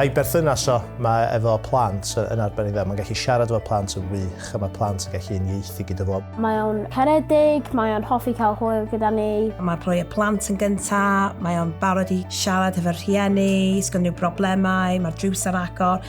A'i berthynas o mae efo plant yn arbennig dda. Mae'n gallu siarad efo plant yn wych a mae plant yn gallu unieithu gyda fo. Mae o'n caredig, mae o'n hoffi cael hwyl gyda ni. Mae'n rhoi y plant yn gyntaf, mae o'n barod i siarad efo'r rhieni, sgynno problemau, mae'r drws ar agor.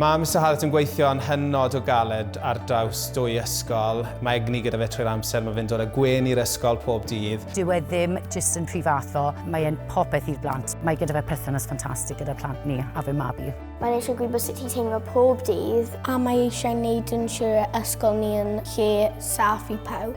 Mae Mister Hallett yn gweithio yn hynod o galed ar draws dwy ysgol. Mae egni gyda fe trwy'r amser, mae fe'n dod â gwên i'r ysgol pob dydd. Dyw e ddim jyst yn rhy fath o, mae e'n popeth i'r blant. Mae gyda fe perthynas ffantastig gyda'r plant ni a fy mab i. Mae'n eisiau gwybod sut i teimlo pob dydd. A mae eisiau neud yn siwr y ysgol ni yn lle saff i pawb.